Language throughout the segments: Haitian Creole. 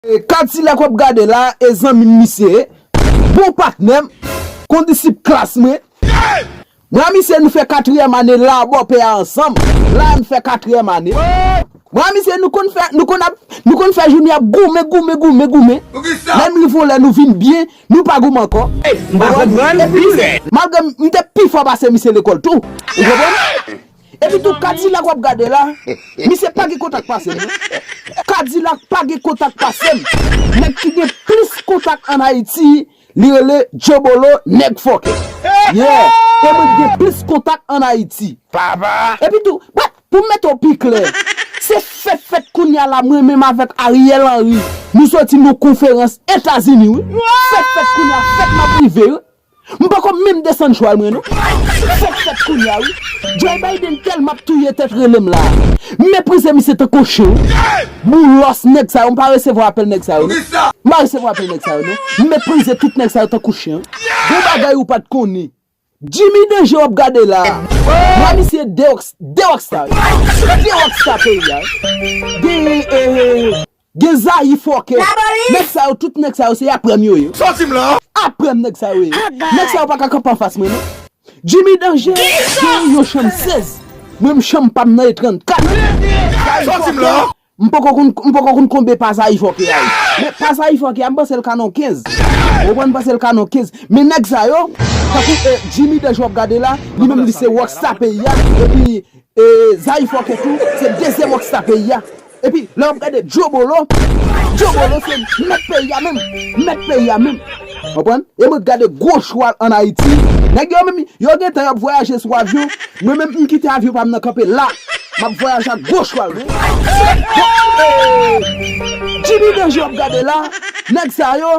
Kadilak wap gade la e zanmim misye ye bon patnèm kondisip klas mwen mwen a misye nou fè katriyèm ane la bòpè a ansanm la em fè katriyèm ane mwen a misye nou konn fè nou konn ap nou konn fè jounen ap goumen goumen goumen goumen lèm rive yon lè nou vin byen nou pa goumen ankò ou konprann epi malgre m te pi fò pase misye lekòl tou ou konprann. Epi tou kadilak wap gade la misye pa gen kontak pasem non kadilak pa gen kontak pasem nèg ki gen plis kontak an ayiti li rele jobolo nèg fòkè yeah e mwen ki gen plis kontak an ayiti epi tou but poum mete w pi klè se fèt fèt kounya la mwen menm avèk ariel henry nou soti nan konferans etazini wi fèt fèt kounya fèt map rive wi. M pako menm desann chwal mwen non. Fok fet kounya wi. Joe Biden telman ap touye tet relem la. M meprize misye tankou on chen wi. Boulos neg sa yo m pa resevwa apel neg sa yo non. M pa resevwa apel neg sa yo non. M meprize tout neg sa yo tankou chen. Gon bagay ou pat konnen. Jimmy danje wap gade la. Vwa misye de rockstar wi. De rockstar peyi a wi. Genyen eh. Gen zayi fòkè. Nèg sa yo tout nèg sa yo se aprè m yo ye. Sòti m la. Aprè m nèg sa yo ye. Nèg sa yo pa ka kanpe anfas mwen non. Jimmy danje genyen yon chanm 16 mwen m chanm pa m nan e 34. Sòti m la. M poko konn m poko konn konbe pa zayi fòkè a ye. Men pa zayi fòkè a m panse l ka nan 15. Ou konprann m panse l ka nan 15. Men nèg sa yo tankou Jimmy danje w ap gade la li menm li se rockstar peyi a epi E zay fòkè tou se dezyèm rockstar peyi a epi lè wap gade Djobolo Djobolo se mèt peyi a menm mèt peyi a menm konprann e mwen gade gwo chwal an Ayiti nèg yo menm yo gentan yap vwayaje sou avyon mwen menm m kite avyon pam nan kanpe la map vwayaje ak gwo chwal mwen bon ee Djimi Danjè wap gade la nèg sa yo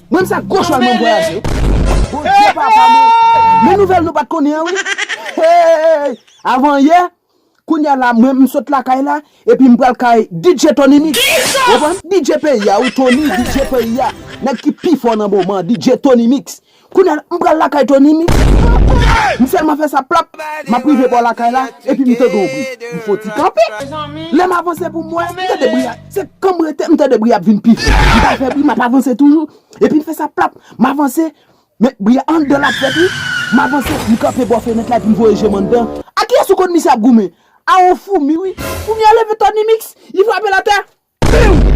Menm sa gwo chwal mwen vwayaje wi. Bondye papa mwen Men nouvèl nou pat konnen an wi Heyy avan yè Kounya la mwen m sot lakay la Epi m pral kay DJ Tony Mix Ou konprann DJ peyi a wi Tony DJ peyi a Nèg ki pi fò nan moman an DJ Tony Mix Kounya la m pral lakay Tony Mix M sèlman fè sa plap M ap rive bò lakay la Epi m tande yon bri M fon ti kanpe Lè m avanse pou m wè M tande bri a. Se kan m rete, m tande bri a ap vin pi fò. M pral fè bri, m ap avanse toujou. Epi m fè sa plap. M avanse, men bri a anndan l ap fèt wi. M avanse, m kanpe bò fenèt la epi m voye je m anndan. A kiyès ou konn misye ap goumen? A yon foumi wi. Foumi a leve tòn li miks, li frape l atè. Piu!